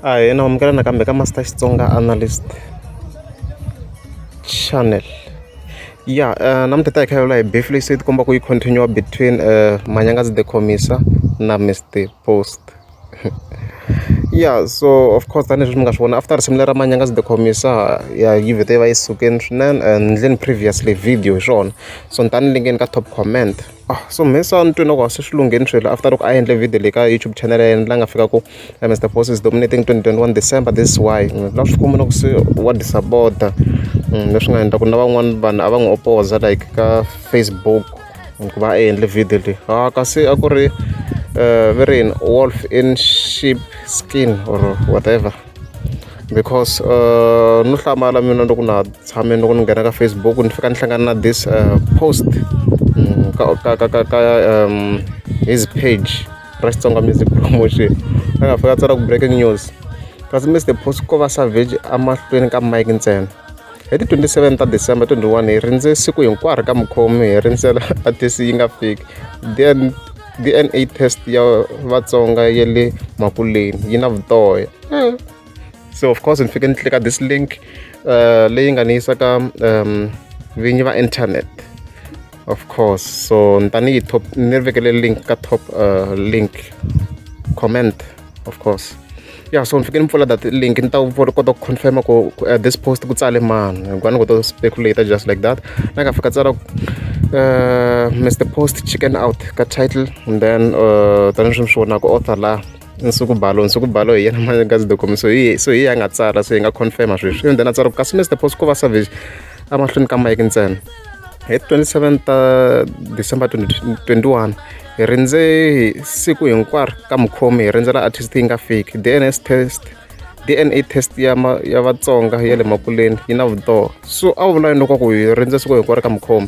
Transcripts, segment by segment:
a hi na amukela nakambe ka master xitsonga analyst channel ya uh, namuntlha ta hi khayela hi beef leyi se ti komba ku yi continue between uh, manyangazi the commissa na mr post ya so of course tanihi leswi mi nga swi vona after risimu lera manyangazi the commissa ya yi vhete yi va yi sukeni swinene and ndleni previously video hi swona so ni tani lingeni ka top comment So Mhisa a ni twe ingaku a se swi lungheni swilo after loko a endle video leyi ka YouTube channel ya yena laha a nga fika ku Mister Boss is dominating twenty twenty one December this is why ni la swi kuma na ku se wa disappoint-a leswi nga endla ku na van'wani vanhu a va n'wi opposer like ka Facebook ku va a endle video leyi ha kasi a ku ri va ri yini wolf in sheep skin or whatever. because uh, no hlamala mina loko na tshame loko ni nghena ka facebook ni fika ni hlangana na this uh, post mm, ka, ka, ka, ka, ka um, his page ra xitsonga music promotion a nga fika tsala ku breaking news kasi mr post ko va savage emahlweni ka mike ntsena hi ti 27 ta december 21 hi rindze siku hinkwaro ka mukhomi hi rindzela atisi yi nga fiki then DNA test ya Vatsonga ya le Makuleni yi na vutoya. Hmm. So of course ni fike ni tlilika this link eh, leyi nga ni yisa ka um vinyi va internet of course so ni ta ni yi top ni vekele link ka top eh, link comment. of course ya so ni fike ni pfula that link ni ta ku kota ku confirma ku at this post ku tsale mani hikuva ni kota ku speculate just like that na nga fika tsala ku uh, mr post chicken out ka title and then uh, tanihi swi mi swi vonaka author laha nsuku balo nsuku balo hi yena manje kazi document so hi so hi ya nga tsala so hi nga confirma sweswi and then a tsala ku kasi mr post ku va savage emahlweni ka mike ntsena hi 27 ta december 2021 hi rindze hi siku hinkwaro ka mukhomi hi rindzela artist yi nga fiki dns test dna test ya ma ya vatsonga ya le makuleni yi na vutoho so a wu vula yini loko ku hi rindze siku hinkwaro ka mukhomi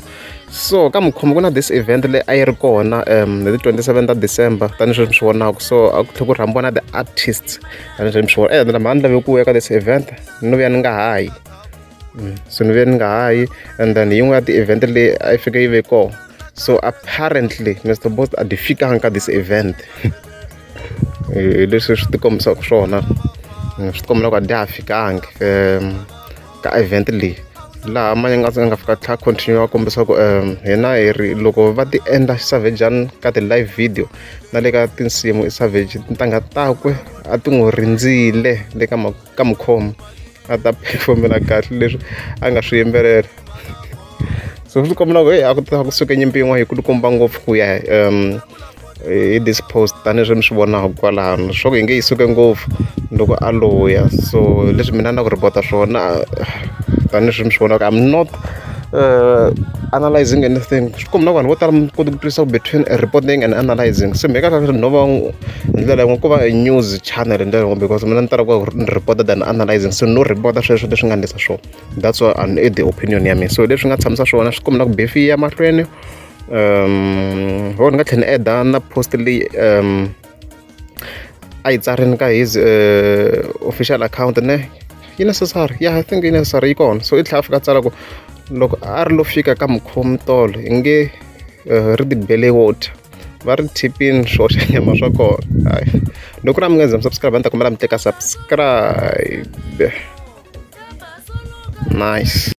so ka mukhomi ku na this event leyi a yi ri kona um hi ti 27 ta december tanihi sweswi mi swi vonaka so a ku tlhe ku rhambiwa na ti-artists tanihi sweswi mi swi vona and mhani lave ku ya ka this event ni no vuya ni nga hayi mm. so ni ve ni nga ha yi and then hi yin'we ya ti-event leyi a yi fike yi ve kona so apparently mr bos a di fikanga ka this event hi leswi swi tikombisaka swona mm, swi tikombela ku a di ha fikangi um ka event leyi laha manye nga nga fika tlha continue kumbe swa ku um hina hi ri loko va ti endla savejani ka ti-live video na le ka tinsimu i savage tintangha takwe a ti n'wi rindzile le ka ka mukhomi a ta phefumela kahle leswi a nga swi yimbelela so swi kombela ku a ku ta ku suke nyimpi yin'wana hi ku tikomba ngopfu ku ya um hi this post tanihileswi mi swi vonaka kwalano swa ku hi nge yi suke ngopfu loko a loya so leswi mina na ku rhibota swona tanihileswi mi swi vonaka I'm not. analyzing anything swi kumbe na vanhu vo tala mi koti ku twisisa ku between a reporting and analyzing se mhaka ya leswaku nhova n'wi hi ndlela yin'we ko va a news channel hi ndlela yin'we because mina ni tala ku va ni report than analyzing se no report sweswo leswi nga endlisa swona that's why and i the opinion ya mina so leswi nga tshamisa swona swi kumbe na ku beef ya mahlweni um ho ni nga tlhela ni add-a na post leyi um a yi tsarini ka his official account ne yi necessary ya i think yi necessary yi kona so i tlhela a fika a tsala ku loko a ri lo fika ka mukhomi tolo hi nge ri tibele water va ri thipini swoxa nyama swa kona hayi loko ku ri a mi nga ndzi mi subscribe a ni ta kombela mi teka subscribe nice